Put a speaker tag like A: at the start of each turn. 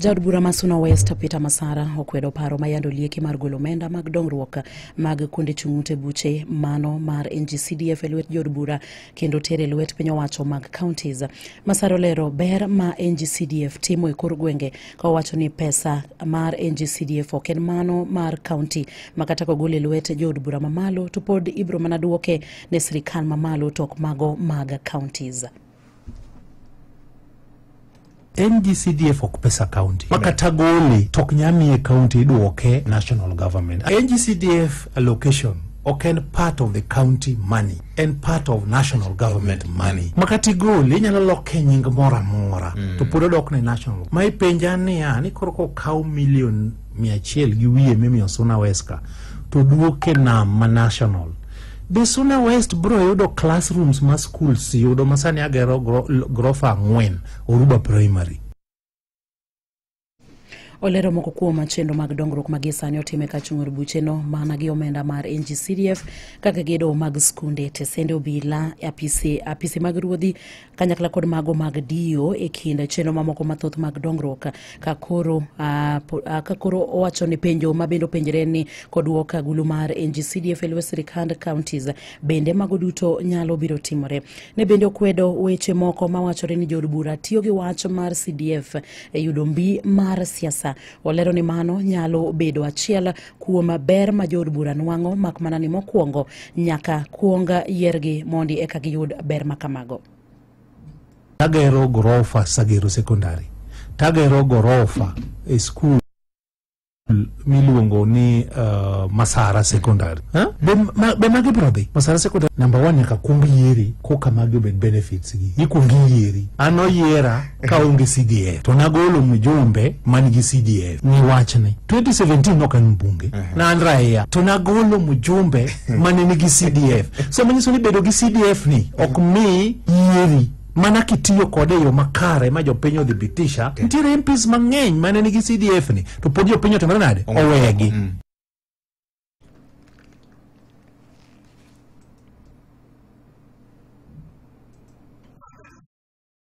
A: Jaod bura ma Suna West Peter Masara okwedo paro ma yando lieke mar golo omenda mag dongruok mag kuonde chung' ute buche mano mar NGCDF e lwet jood bura kendo tere lwet piny owacho mag counties. Masara olero ber ma NGCDF timo e kor gwenge ka owacho ni pesa mar NGCDF ok en mano mar county ma kata kogol e lwet jood bura mamalo to pod ibiro mana duoke ne sirikal mamalo to ok mago mag counties. en gi cdf ok pesa county ma kata gole to ok nya miye county idwoke national government en gi cdf allocation ok en part of the county money en part of national government money ma kata igole inyalo loke nying moro amora to pod odokne national ma ipenja niya ni koro kokaw milion mia achiel gi wiye mimiyo suna weska to duoke nam ma national Be Suna West bro yudo classrooms ma schools yudo masani agero grofa ang'wen Oruba Primary? olero moko kuom chenro mag dongruok ma gisani otime ka chung'ur bucheno mana gi omenda mar ngcdf kaka gedo mag skunde tesende obila apise, apise mag ruodhi kanyakla kod mago mag dio e kind chenro mamoko mathoth mag dongruok ka koro ah, po- ah, ka koro owacho ni penjo ma bende openjre ni koduok agulu mar ngcdf e lwe sirikand counties bende mago duto nyalo biro timore ne bende okwedo weche moko mawachore ni jood bura tiyo gi wach mar cdf e yudo mbi mar siasa olero ni mano nyalo bedo achiel kuom ber ma jood bura nwang'o mak mana ni mokwongo nyaka kuong yiergi mondi eka giyud ber ma kamago tagero gorofa sagero sekondari tagero gorofa e skul miluongo ni uh, masara secondary huh? be, ma, be magi biro dhi masara secondary number one nyaka kuong yieri koka magi obed benefits gi ikuong iyieri an oyiera kaonge cdf to nagolo mjumbe man gi cdf ni wachne 2017 nok an mbunge na an raia to nagolo mjumbe mane nigi cdf so manyiso ni bedo gi cdf ni ok mi yieri mana kitiyo kode e yo makare ma jopiny odhi bitisha nitiere mps mang'eny mane nigi cdf ni to pod jopiny otimore nade owegi